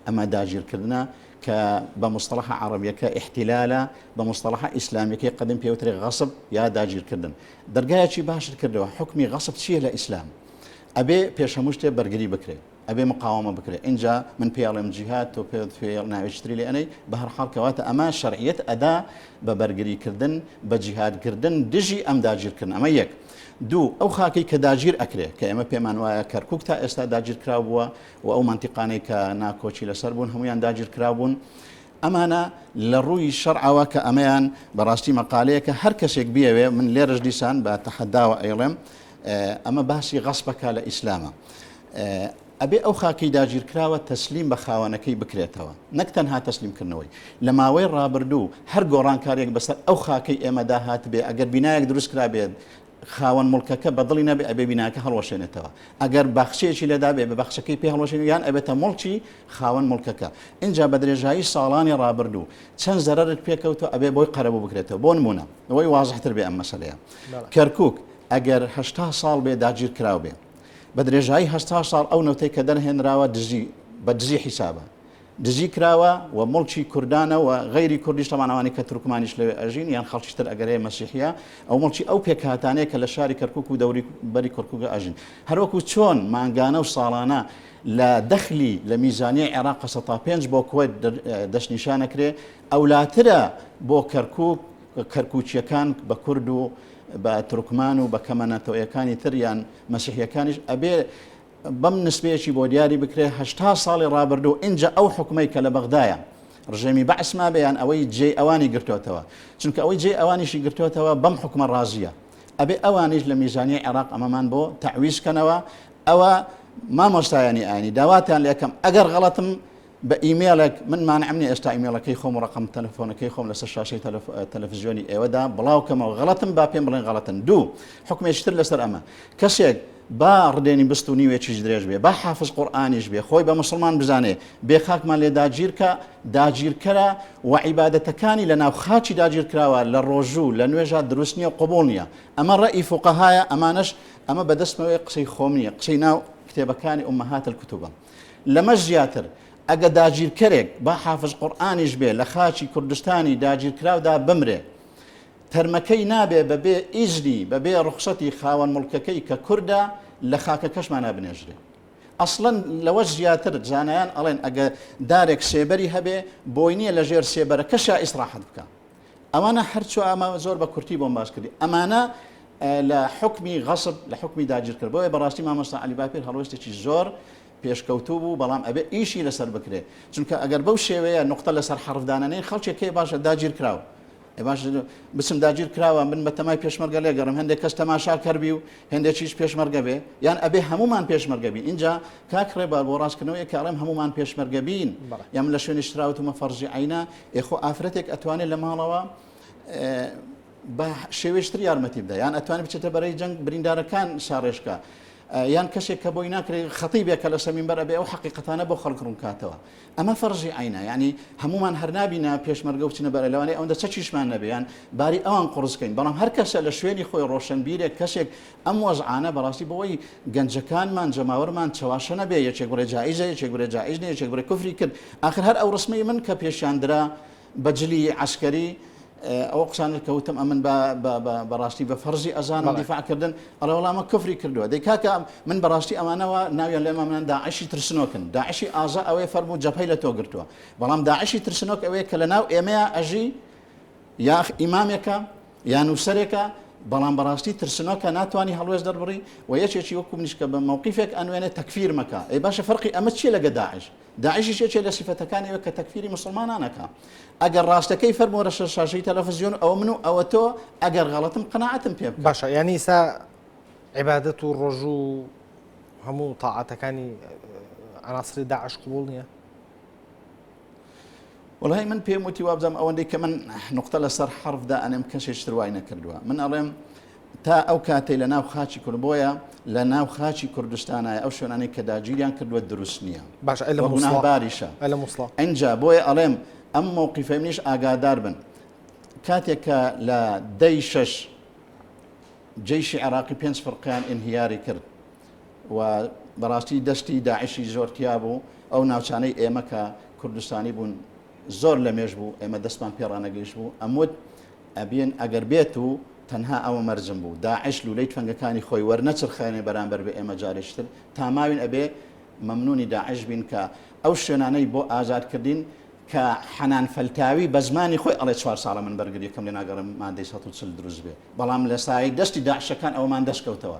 ئەمە داگیرکردنە، کە بە موستەڵەحە عەڕەبیەکە ئیحتیلالە، بە موستەڵەحە ئیسلامیەکەی قەدیم پێی وترێ غەسب یا داگیرکردن. دەرگایەکی باشت کردەوە، حوکمی غەسب چیە لە ئیسلام؟ ئەبێ پێش هەموو شتێ بەرگری بکرێ، ئەبێ مقاوەمە بکرێ، ئینجا من پێ ئەڵێم جیهاد، تۆ پێ پێ ناوێکی تری لێ ئەنێی، بە هەر حاڵ کەواتە ئەمە شەرعیەت ئەدا بە بەرگری کردن، بە جیهاد کردن دژی ئەم داگیرکردنە. ئەمە یەک. دوو، ئەو خاکەی کە داگیر ئەکرێ، کە ئێمە پێمان وایە کەرکوک تا ئێستا داگیرکراو بووە، و ئەو مەنتیقانەی کە نا کۆچی لەسەر بوون هەموویان داگیرکراو بوون ئەمانە لە ڕووی شەرعەوە کە ئەمەیان بەڕاستی مەقالەیەکە هەر کەسێک بیەوێ من لێرەش دیسان بە تەحەداوە ئەیڵێم ئەمە باسی غەسپەکە لە ئیسلامە ئەبێ ئەو خاکەی داگیرکراوە تەسلیم بە خاوەنەکەی بکرێتەوە نەک تەنها تەسلیمکردنەوەی لە ماوەی ڕابردوو هەر گۆڕانکارێک بەسەر ئەو خاکەی ئێمەدا هات بێ ئەگەر بینایەک دروستکرا بێت خاوەن موڵکەکە بە دڵی نەبێ ئەبێ بیناکە هەڵوەشێنێتەوە ئەگەر باخچەیەکی لێدابێ بە باخچەکەی پێ هەڵوەشێنێ یان ئەبێتە موڵکی خاوەن موڵکەکە ئینجا بە درێژایی ساڵانی ڕابردوو چەند زەرەرت پێکەوتو ئەبێ بۆی قەرەبوو بکرێتەوە بۆ نمونە ئەوەی وازحتر بێ ئەم مەسەلەیە کەرکک ئەگەر هەشتا ساڵ بێ داگیر کراو بێ بە درێژایی هەشتا ساڵ ئەو نەوتەی کە دەرهێنراوە دزی بە دزی حیسابە دزی کراوە و موڵکی کوردانە و غەیری کوردیش تەبان ئەوانەی کە تورکمانیش لەوێ ئەژین یان خەڵکیش تر ئەگەر هەیە مەسیحیە ئەو موڵکی ئەو پێکهاتانەیە کە لە شاری کەرکوک و دەوری بەری کورکوگە ئەژین هەروەکو چۆن مانگانە و ساڵانە لە دەخلی لە میزانیە عێراق قسە تا پێنج بۆ کوێت دەستنیشانەکرێ ئەولاترە بۆ کەرکوک کەرکوچیەکان بە کورد و بە ترکمان و بە کەمە نەتەوەیەکانی تریان مەسیحیەکانیش ئەبێ بەم نسبەیەکی بۆ دیاری بکرێ هەشتا ساڵی ڕابردوو ئینجا ئەو حوکمەی کە لە بەغدایە ڕژێمی بەعس مابێ یان ئەوەی جێی ئەوانی گرتۆتەوە چونکە ئەوەی جێی ئەوانیشی گرتۆتەوە بەم حوکمە ڕازیە ئەبێ ئەوانیش لە میزانیە عێراق ئەمەمان بۆ تەعویز کەنەوە ئەوە مامۆستایانی ئاینی داواتان لەکەم ئەگەر غەڵەتم بە ئیمێڵێک من مانعم نیە ئێستا ئیمێڵەکەی خۆم و ڕقم تەلەفۆنەکەی خۆم لەسەر شاشەی تەلەفزیۆنی ئێوەدا بڵاوکەمەوە غەڵەتم با پێم بڵێن غەڵەتن دوو حکمێشتر لەسەر ئەمە کەسێک با ڕدێنی بست و نیوێکیش درێژ بێ با حافظ قورآانیش بێ خۆی بە مسلمان بزانێ بێ خاکمان لێ داگیرکە داگیرکەرە و عیباەتەکانی لە ناو خاچی داگیرکراوە لە ڕۆژوو لە نوێژە دروست نییە قوبول نییە ئەمە ڕئی فوقەهایە ئەمانش ئەمە بەدەستمەوەی قسەی خۆم نییە قسەی ناو کتێبەکانی ئومەهات الکتوبە لەمەش زیاتر، ئەگە داگیرکەرێک با حافز قورئانیش بێ لە خاکی کوردستانی داگیرکراودا بمرێ، تەرمەکەی نابێ بە بێ ئیزنی، بە بێ ڕوخسەتی خاوەن موڵکەکەی کە کوردە لە خاکەکەشمانا بنێژرێ. ئەسڵەن لەوەش زیاتر زانایان ئەڵێن ئەگە دارێک سێبەری هەبێ، بۆی نییە لە ژێر سێبەرەکەشا ئیسڕاحەت بکا. ئەوانە هەر چوا ئەمە زۆر بە کورتی بۆم باس کردی ئەمانە لە حکمی غەصب لە حکمی داگیرکرد بۆیە بەڕاستی مامۆستا علی باپیر هەڵۆستێکی زۆر پێشکەوتوو بوو بەڵام ئەبێ ئیشی لەسەر بکرێت چونکە ئەگەر بەو شێوەیە نقطە لەسەر حرفدانەی خەڵکێک کێ باشە داگیر کراوە باش بچم داگیر کراوە من بە تەمای پێشمەرگە لێگەڕم هەندێک کەس تەماشا کردبی و هەندێکیش پێشمەرگە بێ یان ئەبێ هەمومان پێشمەرگەبی اینجا کاک ڕێبار بۆ ڕاستکردنەوەی کاڕێم هەمومان پێشمەرگەبین یام لە شوێنی شراوتمە فەرزی عینا ئێ خۆ ئافرەتێک ئەتوانێت لە ماڵەوە بە شێوێشتر یارمەتی بدە یان ئەتوانێت بچێتە بەرەی جەنگ بریندارەکان شارێشکە یان کەسێک کە بۆی ناکرێت خەتی بێ کە لە سەمین بەر ئەبێ ئەو حقیقەتانە بۆ خەڵک ڕوونکاتەوە ئەمە فەرژی عینا ینی هەمومان هەرنابینە پێشمەرگە وچنە بەرە لەوانێ ئەوەندە چەچیشمان نەبێیان باری ئەوان قڕزکەین بەڵام هەر کەسە لە شوێنی خۆی ڕۆشنبیرێک کەسێک ئەم وەزعانە بەڕاستی بەوەی گەنجەکانمان جەماوەرمان چەواشە نەبێ یەکێک بڵێ جائیزە یەکێک بڵێ جائیز نیە یەکێک بڵێ کوفری کرد ئاخر هەر ئەو ڕسمەی من کە پێشیان درا بە جلی عەسکەری ئەو قسانت کە وتم ئەمن بەڕاستی بە فەرزی ئەزان و دیفاعکردن ئەڵێ وڵامە کفری کردووە دەی کاکە من بەڕاستی ئەمانەوە ناویان لێمە منان داعشی ترسنۆکن داعشی ئازا ئەوەیە فەرمو جەپەی لە تۆ گرتووە بەڵام داعشی ترسنۆک ئەوەیە کە لە ناو ئێمەیە ئەژی یاخ ئیمامێکە یا نووسەرێکە بەڵام بەڕاستی ترسنۆکە ناتوانانی هەڵوێست دەربڕی و یەکێکی وەکو منیش کە بە مەوقیفێک ئەنوێنێ تەکفیر مەکە ئەی باشە فەرقی ئەمە چیە لەگە داعش داعشیش یەکێ لە سیفەتەکانی وە کە تەکفیری مسلمانانەکە ئەگەر ڕاستەکەی فەرمۆرە شەر شاشەی تەلەفزیۆن ئەو من و ئەوە تۆ ئەگەر غەڵەتم قەنەعەتم پێ بکە. باشە یانی سا عیبادەت و ڕۆژوو هەموو تاعاتەکانی عناصری داعش قبول نییە وەڵای من پێم وتی وابزانم ئەوەندەی کە من نقطە لەسەر حرفدا ئەنێم کەسێش تروای نەکردووە من ئەڵێم تا ئەو کاتەی لە ناو خاچی کورد بۆیە لە ناو خاچی کوردستانایە ئەو شوێنانی کە داگیریان کردووە دروست نییە باش باریشە ئەجا بۆیە ئەڵێم ئەم مووقیفە منیش ئاگادار بن کاتێک کە لە دەی شش جیشی عراقی پێنج فرقیان ئینهیاری کرد و بەڕاستی دەستی داعشی زۆر تیا بوو، ئەو ناوچانەی ئێمە کە کوردستانی بوون زۆر لە مێژ بوو ئێمە دەستمان پێ ڕانەگەیشت بوو ئەموت ئەبێن ئەگەر بێت و تەنها ئەوە مەرجم بوو داعش لولەی تفەنگەکانی خۆی وەرنەچرخێنێ بەرامبەر بە ئێمە جارێشتر تا ماوین ئەبێ مەمنونی داعش بین کە ئەو شوێنانەی بۆ ئازاد کردین کە حەنان فەلتاوی بە زمانی خۆی ئەڵێ چوار ساڵە من بەرگریەکەم لێ ناگەڕێم مادەی 140 دروست بێ بەڵام لە سایەی دەستی داعشەکان ئەومان دەستکەوتەوە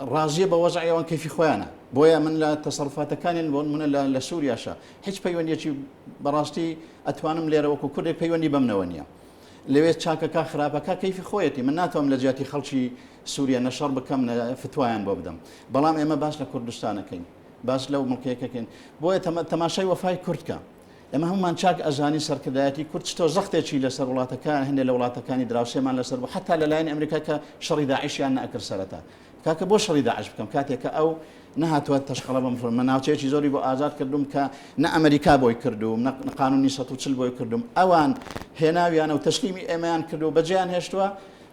ڕازیە بە وەزعی ئەوان کەیفی خۆیانە بۆیە من لە تەسەڕفاتەکانیان بۆن منە لە لە سووریاشە هیچ پەیوەندیەکی بەڕاستی ئەتوانم لێرە وەکو کوردی پەیوەندی بەمنەوە نییە لەوێ چاکەکە خراپەکە کەیفی خۆیەتی من ناتوانم لە جیاتی خەڵکی سووریە نەشەڕ بکەم فتوایان بۆ بدەم بەڵام ئێمە باش لە کوردستانەکەین باش لەو مڵکەیەکەکەین بۆیە تەماشای وەفای کوردکە ئێمە هەموومان چاک ئەزانین سەرکردایەتی کورد چ تۆزەختێکی لەسەر وڵاتەکە هەندێک لە وڵاتەکانی دراوسێمان لەسەر بوو حتا لەلایەن ئەمریکا کە شەڕی داعشیان نەکرد سەرەتا کاکە بۆ شەڕی داعش بکەم کاتێکە ئەو نهاتوە تەشقەڵە بە مسلمان من ناوچەیەکی زۆری بۆ ئازاد کردوم کە نە ئەمریکا بۆی کردوم نە قانونی 140 بۆی کردوم ئەوان هێناویانە و تەسلیمی ئێمەیان کردو بەجیان هێشتووە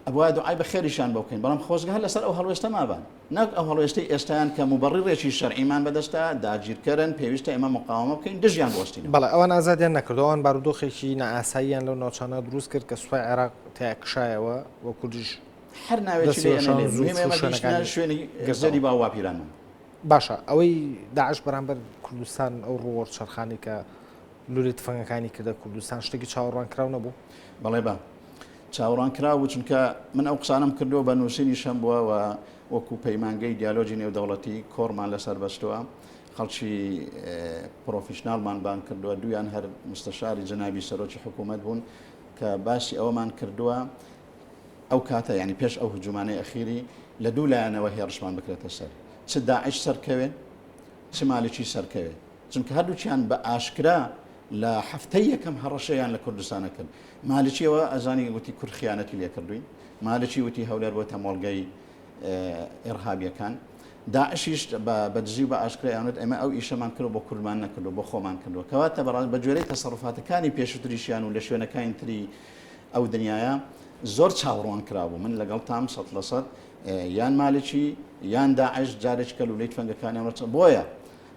ئەبوای دوعای بە خێریشان بۆ بکەین بەڵام خۆزگە هەر لەسەر ئەو هەڵوێستە مابان نەک ئەو هەڵوێستەی ئێستایان کە موبەڕیڕێکی شەرعیمان بەدەستە، داگیرکەرن، پێویستە ئێمە مقاوەمە بکەین، دژیان بوەستینەوە. بەڵێ، ئەوان ئازادیان نەکردووە، ئەوان بارودۆخێکی نائاساییان لەو ناوچانە دروست کرد کە سوپای عێراق تێیا کشایەوە و کوردیش هەر ناوێکی لێ ئەنێن، موهیمە ئێمە گەیشتینە شوێنی گەردەری باوباپیرانمان. باشە، ئەوەی داعش بەرامبەر کوردستان ئەو ڕووەڕچەرخانی کە، لولە تفەنگەکانی کردە کوردستان شتێکی چاوەڕوانکراو نەبوو؟ بەڵێ بە چاوەڕوانکراو بوو، چونکە من ئەو قسانەم کردووە بە نووسینیش هەم بووە و وەکو پەیمانگەی دیالۆجی نێودەوڵەتی کۆڕمان لەسەر بەستووە، خەڵکی پرۆفیشناڵمان بانگ کردووە، دوویان هەر مستەشاری جەنابی سەرۆکی حکوومەت بوون کە باسی ئەوەمان کردووە ئەو کاتە یانی پێش ئەو هجوومانەی ئەخیری لە دوو لایەنەوە هێڕشمان بکرێتە سەر چ داعش سەرکەوێ چ مالکی سەرکەوێ. چونکە هەردووکیان بە ئاشکرا لە هەفتەی یەکەم هەڕەشەیان لە کوردستانە کرد. مالکی ئەوە ئەزانی وتی کورد خیانەتی لێ کردووین. مالکی وتی هەولێر بۆتە مۆڵگەی ئێڕهابییەکان. داعشیش بە دزی و بە ئاشکرای ئەیانوت ئێمە ئەو ئیشەمان کردوە بۆ کوردمان نەکردوە بۆ خۆمان کردوە. کەواتە بەڕاست بە گوێرەی تەسەڕوفاتەکانی پێشوتریشیان و لە شوێنەکانی تری ئەو دنیایە زۆر چاوڕوان کرابوو. من لەگەڵتام سەد لە سەد یان مالکی یان داعش جارێکی کە لولەی تفەنگەکانیان ڕەچە. بۆیە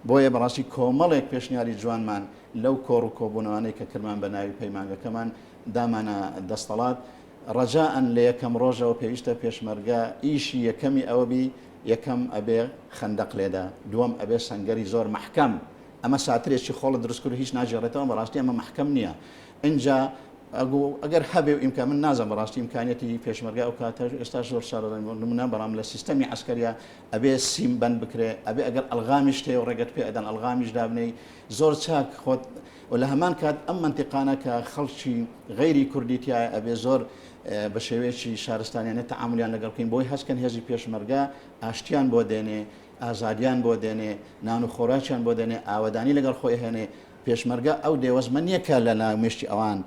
بۆیە بەڕاستی کۆمەڵێک پێشنیاری جوانمان لەو کۆڕ و کۆبوونەوانەی کە کردمان بە ناوی پەیمانگەکەمان دامانە دەستەڵات، ڕەجائەن لە یەکەم ڕۆژەوە پێویستە پێشمەرگە ئیشی یەکەمی ئەوە بی یەکەم ئەبێ خەندەق لێدا، دووەم ئەبێ سەنگەری زۆر مەحکەم، ئەمە ساترێکی خۆڵە دروست کرد و هیچ ناگێڕێتەوە، بەڕاستی ئەمە مەحکەم نییە، ئینجا ئەگو ئەگەر هەبێ و ئیمکان، من نازانم بەڕاستی ئیمکانیەتی پێشمەرگە ئەو کاتە، ئێستاش زۆر شارەزا نیم بۆ نموونە، بەڵام لە سیستەمی عەسکەرییا ئەبێ سیم بەند بکرێ ئەبێ ئەگەر ئەلغامیشت هەیەو ڕێگەت پێ ئەدەن ئەلغامیش دابنێی زۆر چاک خۆت و لە هەمان کات ئەم مەنتیقانە کە خەڵکی غەیری کوردی تایە ئەبێ زۆر بە شێوەیەکی شارستانیانە تەعاملیان لەگەڵ بکەین بۆی هەستکەن هێزی پێشمەرگە ئاشتیان بۆ دێنێ ئازادیان بۆ دێنێ نان و خۆراکیان بۆ دێنێ ئاوەدانی لەگەڵ خۆی هێنێ پێشمەرگە ئەو دێوەزمە نییە کە لە ناو مشتی ئەوان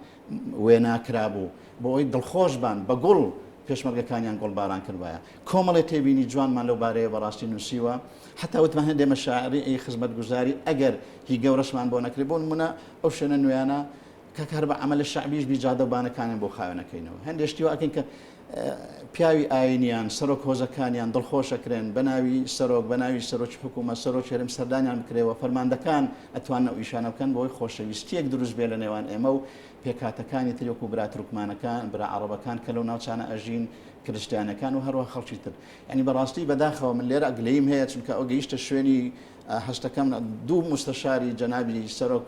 وێنا کرابوو بۆ ئەوەی دڵخۆش بان بە گوڵ، پێشمەرگەکانیان گوڵباران کردبایە. کۆمەڵێ تێبینی جوانمان لەو بارەیەوە بەڕاستی نووسیوە، حەتا وتمان هەیە ئێمە شاعری ئەی خزمەتگوزاری ئەگەر هی گەورەشمان بۆ نەکرێ، بۆ نموونە ئەو شوێنە نوێیانە کاکە هەر بە عەمەلە شەعبیش بی جادە و بانەکانیان بۆ خاوێن ئەکەینەوە، هەندێ شتی وا ئەکەین کە پیاوی ئاینیان سەرۆک هۆزەکانیان دڵخۆش ئەکرێن بە ناوی سەرۆک بە ناوی سەرۆکی حکوومەت سەرۆکی هەرێم سەردانیان بکرێ و فەرماندەکان ئەتوانن ئەو ئیشانە بکەن بۆی خۆشەویستییەک دروست بێ لە نێوان ئێمە و پێکهاتەکانی تر وەکوو برا تورکمانەکان برا عەڕەبەکان کە لەو ناوچانە ئەژین کرستیانەکان و هەروەها خەڵکی تر یعنی بەڕاستی بەداخەوە من لێرە گلەییم هەیە چونکە ئەو گەیشتە شوێنی هەستەکەم دوو مستەشاری جەنابی سەرۆک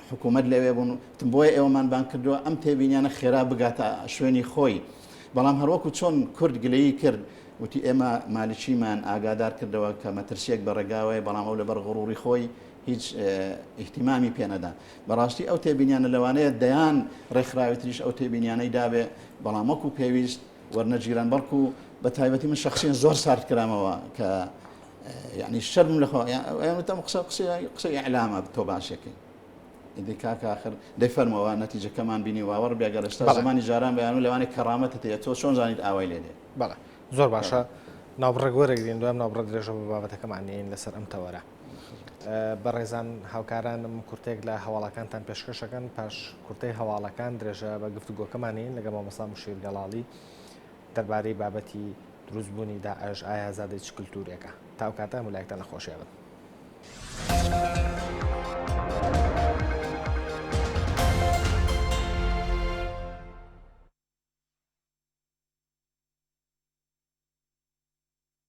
حکوومەت لەوێ بوون تم بۆیە ئێوەمان بان کردووە ئەم تێبینیانە خێرا بگاتە شوێنی خۆی بەڵام هەروەکو چۆن کورد گلەیی کرد وتی ئێمە مالیشیمان ئاگادار کردەوە کە مەترسیەک بە ڕێگاوەیە بەڵام ئەو لەبەر غڕوری خۆی هیچ ئیحتیمامی پێنەدا بەڕاستی ئەو تێبینیانە لەوانەیە دەیان ڕێکخراوی تریش ئەو تێبینیانەی دابێ بەڵام وەکو پێویست وەرنەگیران بەڵکو بە تایبەتی من شخصیان زۆر سارد کرامەوە کە یانی شەرم لە خۆیانتەم قسە قسە قسەی ئەلامە تۆ باشەکەی ئیدی کاک آخر دەفەرمەوە نەتیجەکەمان بینی واوەڕ بێگە لەستا زمانی جاران بەیان و لەوانێک کەڕامەتە تێ تۆ چۆن زانیت ئاوای لێ دێ بەڵێ زۆر باشە ناوبڕێک وەرەگرین دوام ناوبڕە درێژە بە بابەتەکەمان نین لەسەر ئەم تەوەرە بەڕێزان هاوکارانم کورتێک لە هەواڵەکانتان پێشکەشەکەن پاش کورتەی هەواڵەکان درێژە بە گفتوگۆکەمانین لەگە مامەسا مشیر گەڵاڵی دەربارەی بابەتی دروست بوونی داعش، ئایا زادەی چ کلتورێکە؟ تا ئەو کاتە هەموو لایەکتان لە خۆشیا بن.